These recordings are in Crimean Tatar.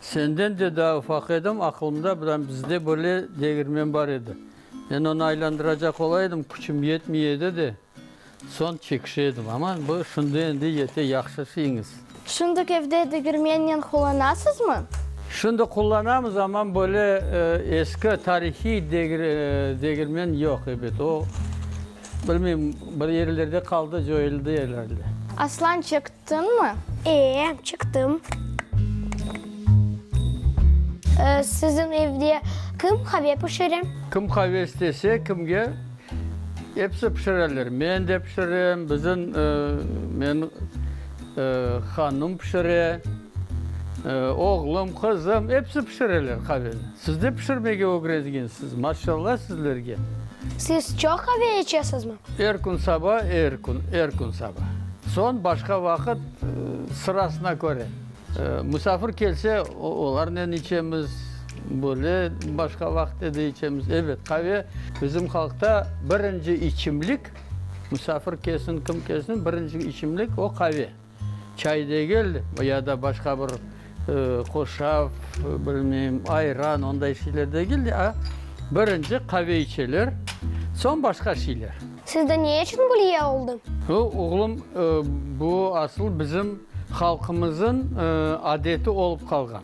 Senden de daa ufaq edim, aqılımda biram bizde böyle degirmen bar edi. Men onı aylandıracaq ola edim, küçüm yetmey edi de, soñ çekişe edim. Amma bu şimdi endi yete, yahşı işeñiz. Şundık evde degirmennen qullanasızmı? Şimdi qullanamız, amma böyle eski, tarihiy degirmen yoq, ebet. O, bilmeyim, bir yerlerde qaldı, coyuldı, herhalde. Aslan çekti. Çıqtıñmı? Ee, çıqtım. Siziñ evde kim qave pişire? Kim qave istese, kimge, episi pişireler. Men de pişirem, biziñ, meñ, hanım pişire, oğlum, qızım, episi pişireler qaveni. Siz de pişirmege ögrengensiz, maşalla sizlerge! Siz çoq qave içesizmi? Er kün saba, er kün, er kün saba. Soñ başqa vaqıt, sırasına köre. Musafir kelse, olarnen içemiz, böyle başqa vaqıtta da içemiz. Ebet, qave bizim halqta birinci içimlik, musafir kelsin, kim kelsin, birinci içimlik, o, qave. Çay degil, ya da başqa bir qoşav, bilmeyim, ayran, onday şeyler degil de, a birinci qave içeler, soñ başqa şeyler. Sizde ne içün Gülye oldı? Bu, oğlum, bu asıl bizim halqımızın adeti olıp qalğan.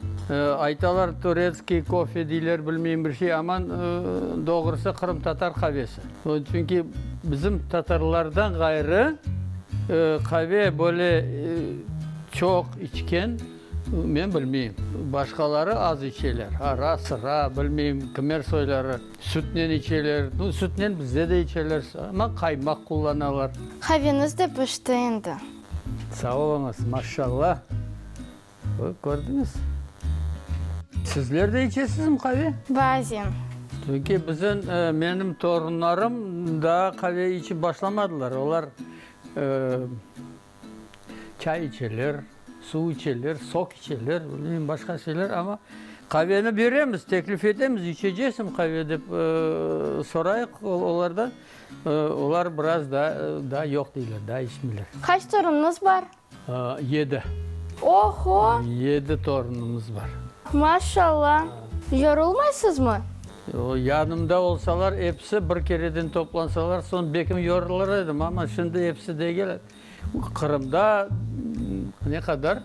Aytalar, turetskiy kofe deyler, bilmeyim, bir şey, aman doğrusı qırımtatar qavesi. Çünki bizim tatarlardan ğayrı qave böyle çoq içken men bilmeyim. Başqaları az içeler, ara, sıra, bilmeyim, qımer soyları sütnen içeler. Sütnen bizde de içeler, amma qaymaq qullanalar. Qaveniz de pişti endi. Sağ oluñız, maşşalla. Bañ, kördiñiz? Sizler de içesizmi qave? Bazen. Çünki biziñ, menim torunlarım daa qave içip başlamadılar. Olar çay içeler, suv içeler, sok içeler, bilmeyim, başqa şeyler, amma qaveni beremiz, teklif etemiz, içeceksmi qave dep sorayıq olardan. Olar biraz daa yoq deyler, daa içmeyler. Qaç toruñız bar? Yedi. Oho! Yedi torunımız bar. Maşalla! Yorulmaysızmı? Yanımda olsalar, episi bir kereden toplansalar, soñ bekim yorulır edim, amma şimdi episi de kele. Qırımda ne qadar?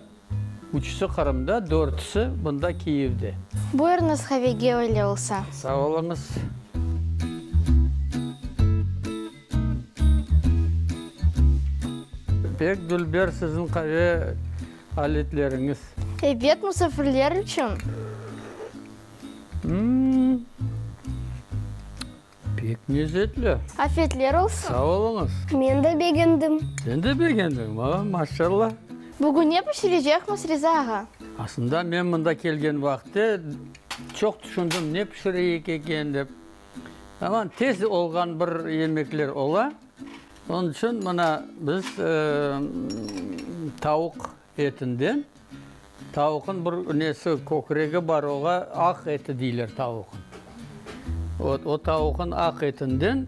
Üçüsi Qırımda, dörtüsi mında Kiyevde. Buyurıñız qavege, öyle olsa. Sağ oluñız. Pek dülber siziñ qave aletleriñiz. Ebet, musafirler içün. Pek mezetli. Afetler olsun. Sağ oluñız. Men de begendim. Sen de begendiñ? Aa, maşallah. Bugün ne pişirecekmiz, Riza ağa? Aslında men mında kelgen vaqıtte çoq tüşündim, ne pişireyik eken dep. Aman tez olğan bir yemekler ola, onıñ içün mına biz tavuq etinden, tavuqnıñ bir nesi, kökregi bar, oña aq eti deyler tavuqnıñ. Vot, o tavuqnıñ aq etinden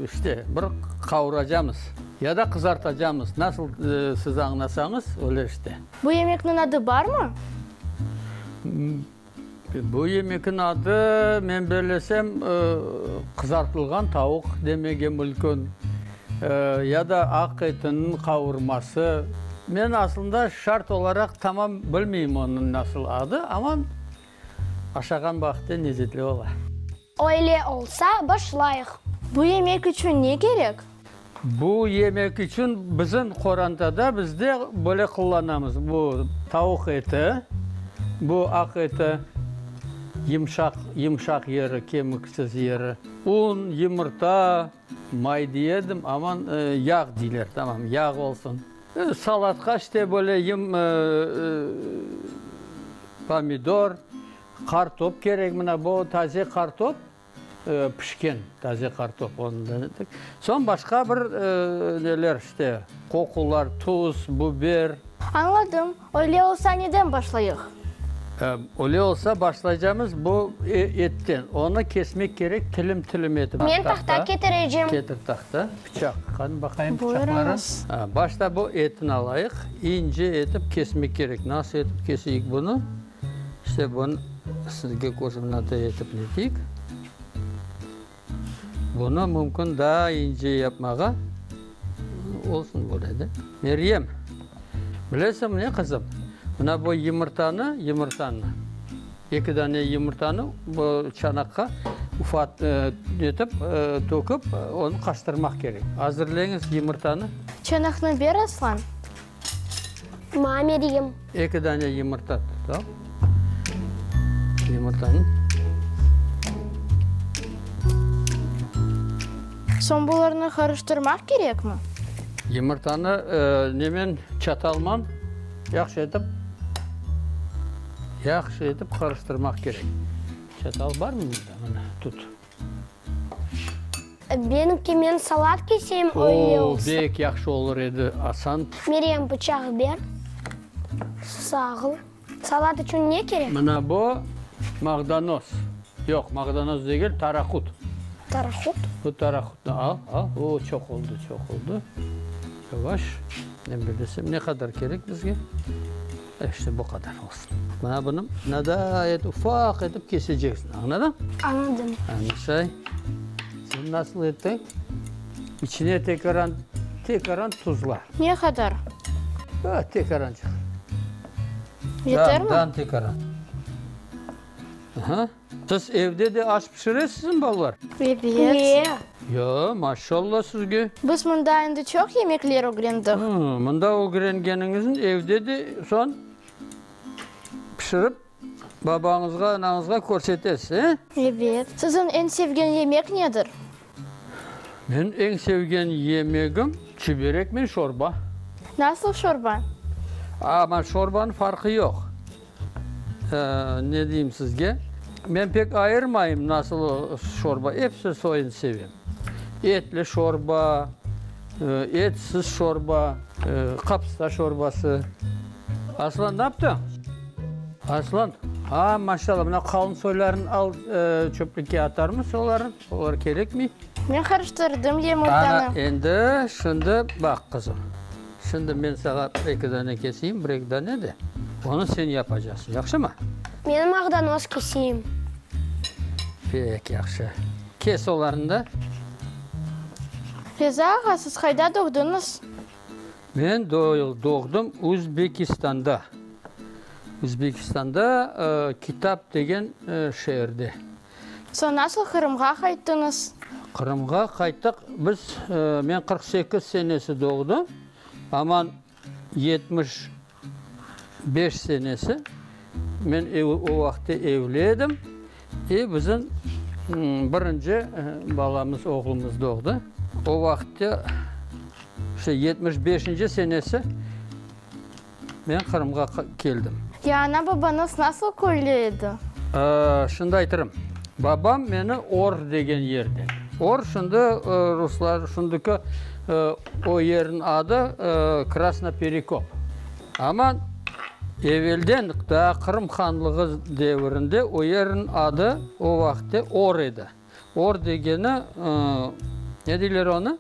işte bir qavuracamız ya da qızartacamız, nasıl siz añlasañız, öyle işte. Bu yemekniñ adı barmı? Bu yemekniñ adı, men bellesem, qızartılğan tavuq demege mülkün, ya da aq etiniñ qavurması. Men aslında şart olaraq tamam bilmeyim onıñ nasıl adı, amma aşağan vaqıtta nezzetli ola. Öyle olsa, başlayıq. Bu yemek içün ne kerek? Bu yemek içün bizim qorantada bizde böyle qullanamız, bu tavuq eti, bu aq eti, yımşaq, yımşaq yeri, kemiksiz yeri, un, yumurta, may diyedim, amma yağ deyler, tamam, yağ olsun. Salatqa işte böyle yım, pomidor, Qartop kerek, mına bu taze qartop, pişken taze qartop. Soñ başqa bir neler işte, qoqular, tuz, buber. Añladım. Öyle olsa neden başlayıq? Öyle olsa başlaycamız bu etten. Onı kesmek kerek tilim-tilim etip. Men tahta ketirecim. Ketir tahta, bıçaq. Qani baqayım bıçaqları. Başta bu etini alayıq. İnce etip kesmek kerek. Nasıl etip keseyik bunı? İşte bun sizge koordinata etip netik. Bunı mümkün daa ince yapmağa olsun böyle de. Meryem, bilesiñ ne qızım, mına bu yumurtanı, yumurtanı, eki dane yumurtanı bu çanaqqa ufat etip tökip, onı qaştırmaq kerek. Azırleñiz yumurtanı. Çanaqnı ber, Aslan. Mame diyim. Eki dane yımırta tutam. Yımırtanı. Soñ bularnı qarıştırmaq kerekmi? Yımırtanı nemen, çatalman yahşı etip, yahşı etip qarıştırmaq kerek. Çatal barmı mında? Mına, tut. Benimki, men salat keseyim, o ye olsun. Oo, bek yahşı olur edi, asan. Meryem, bıçaq ber. Sağıl. Salat içün ne kerek? Mına bu, mağdanoz. Yoq, mağdanoz degil, tarahut. Tarahut? Bu tarahutnı al, al. O, çoq oldu, çoq oldu. Yavaş. Men bilesem, ne qadar kerek bizge? İşte bu qadar olsun. Mına bunı nadaayet ufaq etip keseceksiñ, añladıñ? Añladım. Anusay, sen nasıl ettiñ? İçine tekaran, tekaran tuzla. Ne qadar? Aa, tekarancıq. Yetermi? Dan, dan tekaran. Aha. Siz evde de aş pişiresizmi, balalar? Ebet. Ya, maşallah sizge! Biz mında endi çoq yemekler ögrendik. Mında ögrengeniñizniñ evde de soñ pişirip, babañızğa, anañızğa körsetesiz, e? Ebet. Siziñ eñ sevgen yemek nedir? Men eñ sevgen yemegim çüberek men şorba. Nasıl şorba? Ama şorbanıñ farqı yoq. Ne deyim sizge, men pek ayırmayım nasıl şorba, episi soyun sevem. Etli şorba, etsiz şorba, qapısta şorbası. Aslan naptıñ? Aslan, aa, maşallah, mına qalın soylarını al, çöplükke atarmız olarnı. Olar kerekmi? Men qarıştırdım yumurtanı. Ana, endi, şimdi baq, qızım. Şimdi men saña bir-eki dane keseyim, bir-eki dane de, onı sen yapacaqsıñ, yahşımı? Meni maqdanoz keseyim. Pek yahşı. Kes olarnı da. Reza ağa, siz qayda doğduñız? Men doğdım Uzbekistanda. Uzbekistanda Kitap degen şeerde. Soñ nasıl Qırımğa qayttıñız? Qırımğa qayttıq biz, men qırq sekiz senesi doğdım, Aman yetmiş beş senesi, men o vaqıtta evli edim, e, bizim birinci balamız, oğlumız doğdı. O vaqıtta, işte, yetmiş beşinci senesi. Men Qırımğa keldim. Ya ana-babañız nasıl köyle edi? Şimdi aytırım. Babam meni Or degen yerde. Or, şimdi ruslar, şimdiki o yerniñ adı Krasnoperekop. Amma evelden, daa Qırım hanlığı devirinde o yerniñ adı o vaqıtte Or edi. Or degeni, ne deyler onı?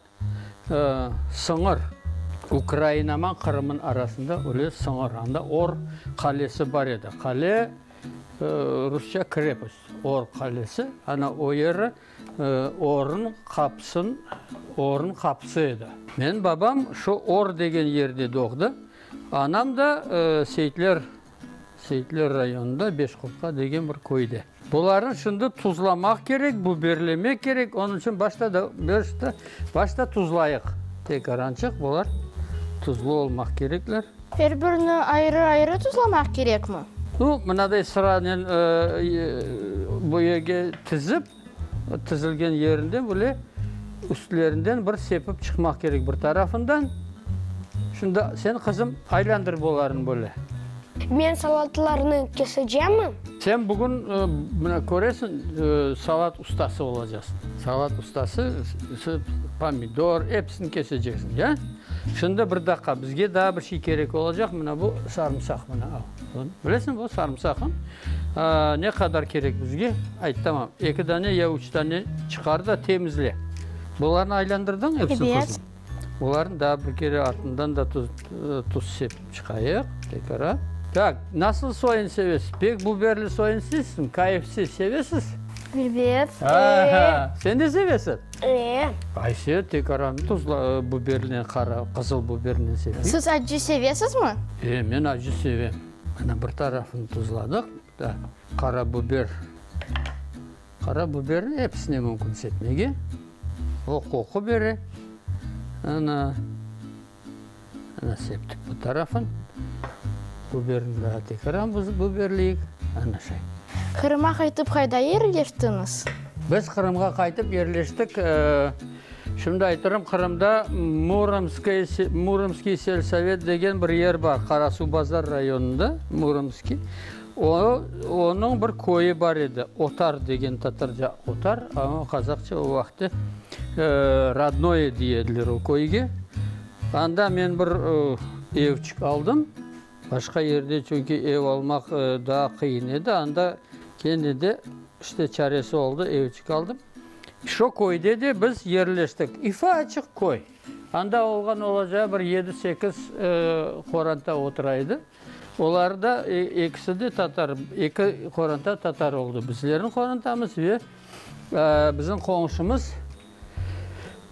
Sıñır, Ukrainaman Qırımın arasında öyle sıñır, anda Or qalesi bar edi. Qale, rusça krepost, Or qalesi, ana o yeri Ornıñ qapısın, Ornıñ qapısı edi. Menim babam şu Or degen yerde doğdı. Anam da Seyitler Seyitler rayonında Beşqurtqa degen bir köyde. Bularnı şimdi tuzlamaq kerek, buberlemek kerek. Onıñ içün başta da, başta, başta tuzlayıq. Tekrar ançıq bular tuzlu olmaq kerekler. Er birini ayrı-ayrı tuzlamaq kerekmi? Yoq, mınaday sıranen, eee, bu yerge tizip. Tizilgen yerinden böyle üstlerinden bir sepip çıqmaq kerek bir tarafından. Şunda sen, qızım, aylandır bolarını böyle. Men salatlarnı kesecemmi? Sen bugün, mına köresiñ, salat ustası olacaqsıñ. Salat ustası, pomidor, episini keseceksiñ, ya? Şimdi bir daqqa, bizge daa bir şey kerek olacaq, mına bu sarımsaq, mına al. Bilesiñ, bu sarımsaqım ne qadar kerek bizge? Ayt, tamam, eki dane ya üç dane çıqar da temizle. Bularnı aylandırdın epsin tuzlu? Evet. Bularnı daa bir kere artından da tuz sepip çıqayıq. Tekrar. Tak, nasıl soyun sevesiz? Pek buberli soyun sevsiñ, kayfsiz sevesiz? Evet. Sen de sevesiz? Ee. Ayse, tek aranı tuzla bubernen qara, qızıl bubernen sepik. Siz acı sevesizmi? Ee, men acı sevem. Ana, bir tarafını tuzladıq. Da, qara buber. Qara buberni episine mümkün sepmege. O qoqu bere. Ana. Ana septik bu tarafın. Biberini daa tekaran biberleyik. Ana şay. Qırım'a qaytıp qayda yerleştiñiz? Biz Qırımğa qaytıp yerleştik, şimdi aytırım, Qırımda Muromskoye, Muromskiy selsovet degen bir yer bar, Qarasuvbazar rayonında, Muromskiy. O, onıñ bir köyü bar edi, Otar degen, tatarca Otar, qazaqça o vaqıtta Rodnoye diye ediler o köyge. Anda men bir evçik aldım. Başqa yerde çünki ev almaq daa qıyın edi. Anda kene de işte çaresi oldı, evçik aldım. Şo köyde de biz yerleştik. Üfaaçıq köy. Anda olğan olacağı bir yedi-sekiz qoranta otura edi. Olar da ekisi de tatar, eki qoranta tatar oldı. Bizlerniñ qorantamız ve bizim qoñşumız.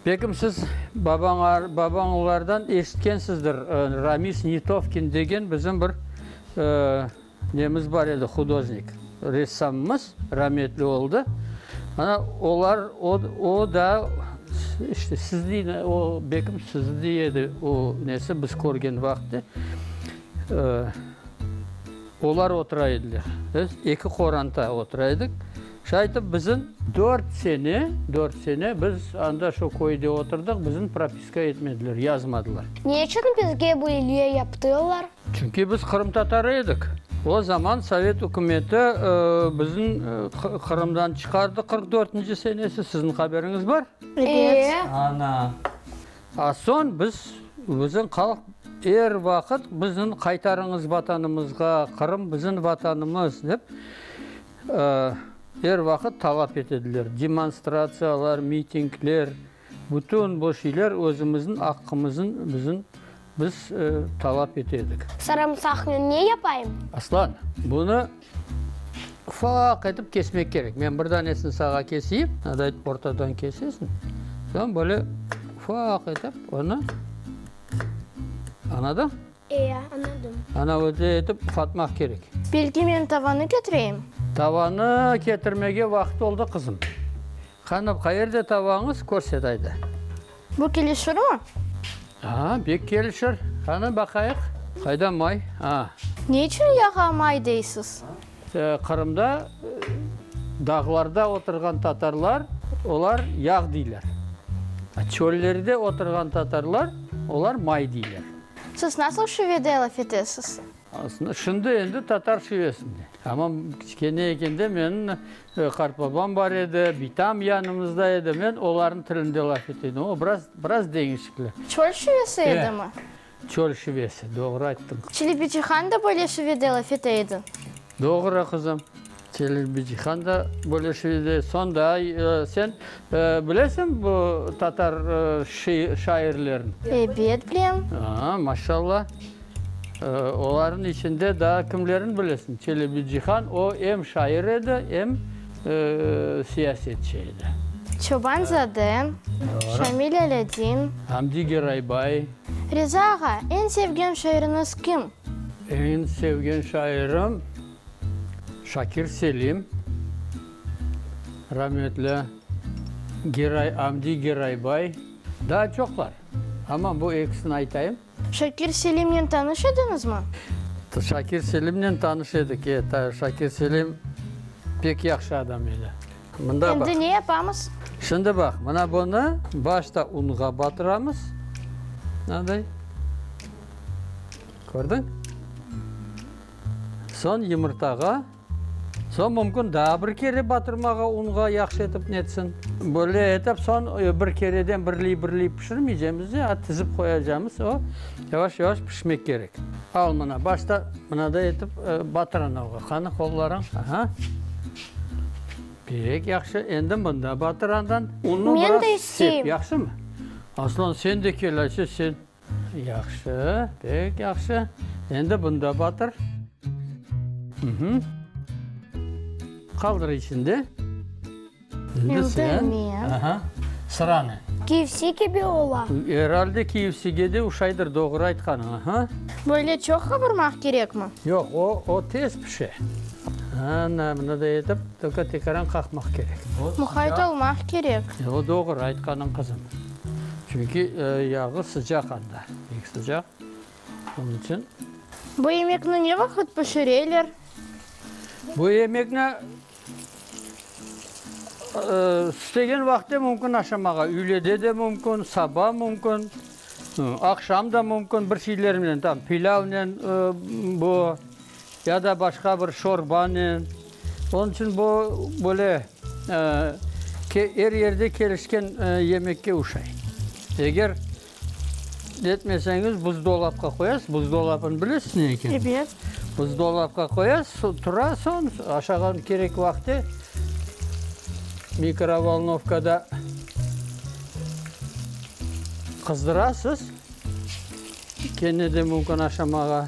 Bekim siz babañlardan eşitkensinizdir, Ramis Nitovkin degen bizim bir nemiz bar edi, hudoznik, ressamımız, rametli oldı. Ana, olar, o da, işte, sizni, o Bekim sizni edi, o nesi, biz körgen vaqıtı, olar otura ediler. Biz eki qoranta otura edik. Şaytım, bizim dört sene, dört sene biz anda şu köyde oturdıq, bizim propiska etmediler, yazmadılar. Ne içün bizge bu ilge yaptılar? Çünki biz qırımtatarı edik. O zaman sovet ükümeti bizni Qırımdan çıqardı qırq dörtünci senesi, siziñ haberiñiz bar? Ebet. Ana. A soñ biz, bizim halq er vaqıt bizni qaytarıñız Vatanımızğa, Qırım bizim Vatanımız dep Er vaqıt talap etediler, demonstratsiyalar, mitingler, bütün bu şeyler özümizniñ aqqımızın bizim, biz talap etedik. Sarımsaqnı ne yapayım? Aslan, bunı ufaq etip kesmek kerek. Men bir danesini sağa keseyim, nada etip ortadan kesesiñ, soñ böyle ufaq etip onı, añladın? E, añladım. Ana öyle etip ufatmaq kerek. Belki men tavanı ketireyim? Tavanı ketirmege vaqıt oldı, qızım. Qanı, qayerde tavañız, körset ayda. Bu kelişirmi? Aa, bek kelişir. Qanı, baqayıq. Qayda may? Aa. Ne içün yağa may deysiz? Qırımda dağlarda oturğan tatarlar, olar yağ deyler. Çöllerde oturğan tatarlar, olar may deyler. Siz nasıl şivede laf etesiz? Aslında şimdi endi tatar şivesinde. Amma kiçkene ekende menim qartbabam bar edi, bitam yanımızda edi, men olarnıñ tilinde laf etedim. O biraz, biraz deñişikli. Çöl şivesi edimi? Çöl şivesi, doğru ayttıñ. Çelebi Cihan da böyle şivede laf ete edi. Doğru, qızım. Celil Bicihan da böyle şiir edi. Sonda sen bilesiñ bu tatar şairlerin? Ebet, bilem. Aa, maşallah. Olarnıñ içinde daa kimlerin bilesiñ? Celil Bicihan, o em şair edi, em siyasetçi edi. Çoban-zade, Şamil Alâdin. Hamdi Geraybay. Riza ağa, eñ sevgen şairiñiz kim? Eñ sevgen şairim, Şakir Selim, rametli Geray, Amdi Geraybay, daa çoqlar, amma bu ekisini aytayım. Şakir Selimnen tanış ediñizmi? Şakir Selimnen tanış edik, e, Şakir Selim pek yahşı adam edi. Şimdi ne yapamız? Şimdi baq, mına bunı başta unğa batıramız. Mınanday. Kördiñ? Soñ yumurtağa. Soñ mümkün daa bir kere batırmağa unğa yahşı etip netsin. Böyle etip soñ bir kereden birley-birley pişirmeycemiz de, a tizip qoyacamız. O yavaş-yavaş pişmek kerek. Al mına, başta mınaday etip batır anavğa. Qani, qollarıñ. Aha. Pek yahşı, endi mında batırandan unnu biraz sep, yahşımı? Aslan, sen de kel, ayçe, sen. Yahşı, pek yahşı, endi bunda batır. Qaldır içinde. Endi sen. Sıranı. KFC kibi ola. Herhalde KFCge de oşaydır, doğru aytqanıñ. Böyle çoq qavurmaq kerekmi? Yoq, o tez. Pişe. Ana, bunıday etip, tölke tekaran qaqmaq kerek. Muqayt olmaq kerek. O, doğru aytqanıñ, qızım. Çünki yağı sıcaq anda, pek sıcaq. Onıñ içün. Bu yemekni ne vaqıt pişireler? Bu yemekni İstegen vaqıtte mümkün aşamağa, üylede de mümkün, saba mümkün, aqşam da mümkün, bir şeylernen, tam pilâvnen, bu, ya da başqa bir şorbanen. Onıñ içün bu, böyle, er yerde kelişken yemekke oşay. Eger Etmeseñiz, buzdolapqa qoyasız. Buzdolapını bilesiz ne ekenin? Ebet. Buzdolapqa qoyasız, tura, soñ aşağı kerek vaqıtı mikrovolnovkada qızdırasız, kene de mümkün aşamağa.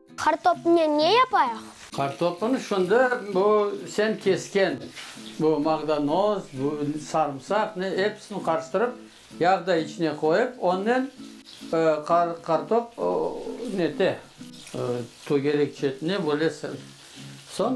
Qartopnen ne yapayıq? Qartopını şimdi bu sen kesken bu maqdanoz, bu sarımsaq, ne, episini qarıştırıp, yağ da içine qoyıp, onnen qartop nete, tögerek çetine böyle ser. Soñ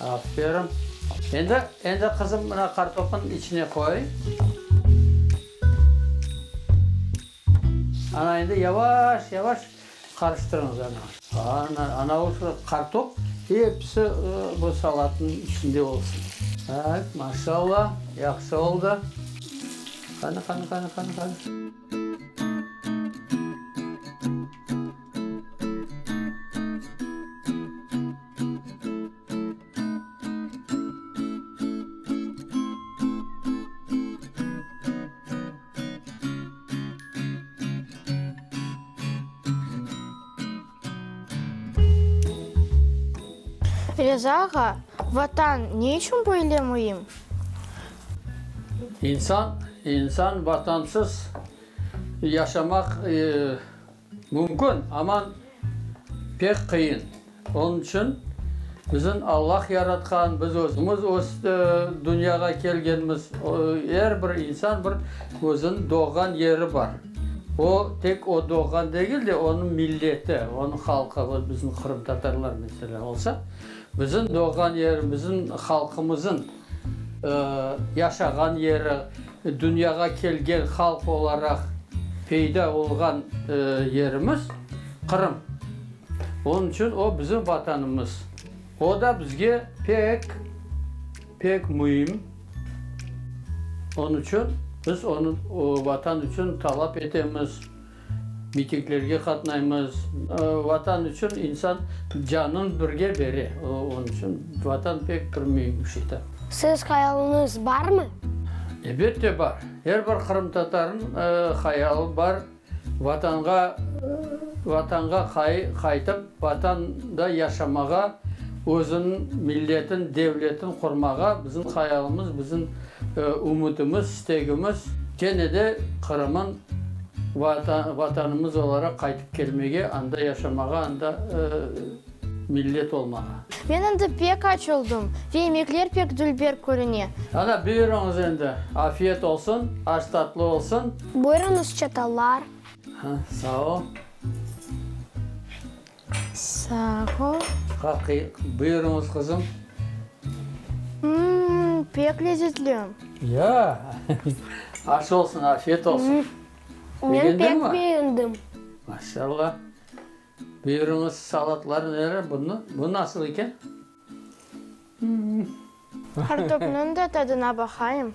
Aferin. Endi, endi qızım mına kartopın içine qoy. Ana endi yavaş, yavaş qarıştırıñız ana. Ana, anavu şu kartop episi bu salatnıñ içinde olsun. Ait, maşalla, yahşı oldı. Qani, qani, qani, qani, qani. Reza ağa, Vatan ne içün böyle müim? İnsan, insan Vatansız yaşamaq Mümkün, amma pek qıyın. Onıñ içün bizim Allah yaratqan, biz özümiz öste dünyağa kelgenmiz. Er bir insan bir özüniñ doğğan yeri bar. O, tek o doğğan degil de, onıñ milleti, onıñ halqı, vot bizim qırımtatarlar, meselâ, olsa, bizim doğğan yerimiziñ, halqımızıñ. Yaşağan yeri, dünyağa kelgen halq olaraq peyda olğan yerimiz Qırım. Onıñ içün o, bizim Vatanımız. O da bizge pek, pek müim. Onıñ içün biz onı Vatan içün talap etemiz. Mitinglerge qatnaymız. Vatan içün insan canın birge bere. Onıñ içün Vatan pek bir müim bir şey. Siz hayalınız barmı? Elbette bar. Er bir qırımtatarnıñ hayalı bar. Vatanğa, Vatanğa qaytıp, Vatanda yaşamağa, özüniñ milletin, devletin qurmağa, bizim hayalımız, bizim Ümütimiz, istegimiz, kene de Qırım'ın Vatanımız olaraq qaytıp kelmege, anda yaşamağa, anda millet olmağa. Men endi pek aç oldım ve yemekler pek dülber körüne. Ana, buyurıñız endi, afiyet olsun, aş tatlı olsun. Buyurıñız çatallar. Sağ ol. Sağ ol. Qaqi, buyurıñız qızım. Mmm, pek lezetli. Ya, aş olsun, afiyet olsun. Men pek beğendim. Maşallah. Buyurıñız, salatlar nere, bunu, bu nasıl eken? Kartopnıñ da tadına baqayım.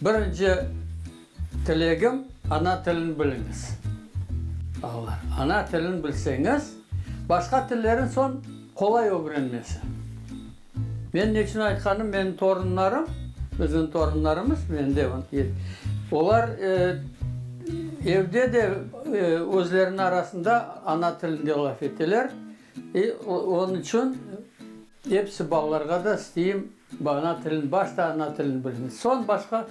Birinci tilegim, ana tilini biliñiz, balalar. Ana tilini bilseñiz, başqa tillerin soñ qolay ögrenmesi. Men ne içün aytqanım, menim torunlarım, bizim torunlarımız, mende olar evde de özleriniñ arasında ana tilinde laf eteler, onıñ içün episi balalarğa da isteyim, Ana tilin, başta ana tilin bilsin, soñ başqa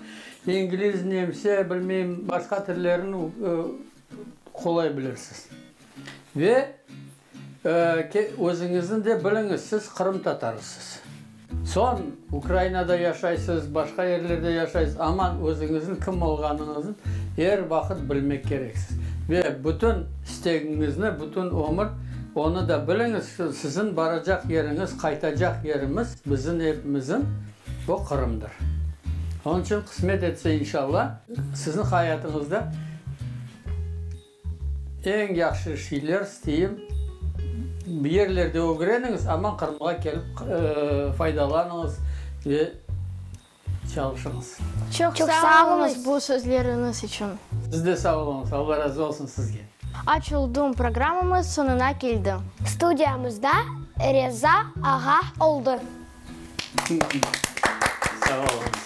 ingliz, nemse, bilmeyim, başqa tillerin qolay bilirsiz. Ve özüñizniñ de biliñiz, siz qırımtatarısız. Soñ Ukrainada yaşaysız, başqa yerlerde yaşaysız, amma özüñizniñ kim olğanıñıznı er vaqıt bilmek kereksiz. Ve bütün. İstegiñizni bütün ömür, onı da biliñiz ki, siziñ baracaq yeriñiz, qaytacaq yerimiz, biziñ evimiziñ, bu Qırımdır. Onıñ içün qısmet etse, inşalla, siziñ hayatıñızda eñ yahşı şeyler isteyim, bir yerlerde ögreniñiz, aman Qırımğa kelip faydalanıñız ve Çalışıñız. Çoq sağ oluñız bu sözleriñiz içün. Siz de sağ oluñız. Alla razı olsun sizge. Açıldım, programmamız soñuna keldi. Studiyamızda Reza ağa oldı. Sağ oluñız.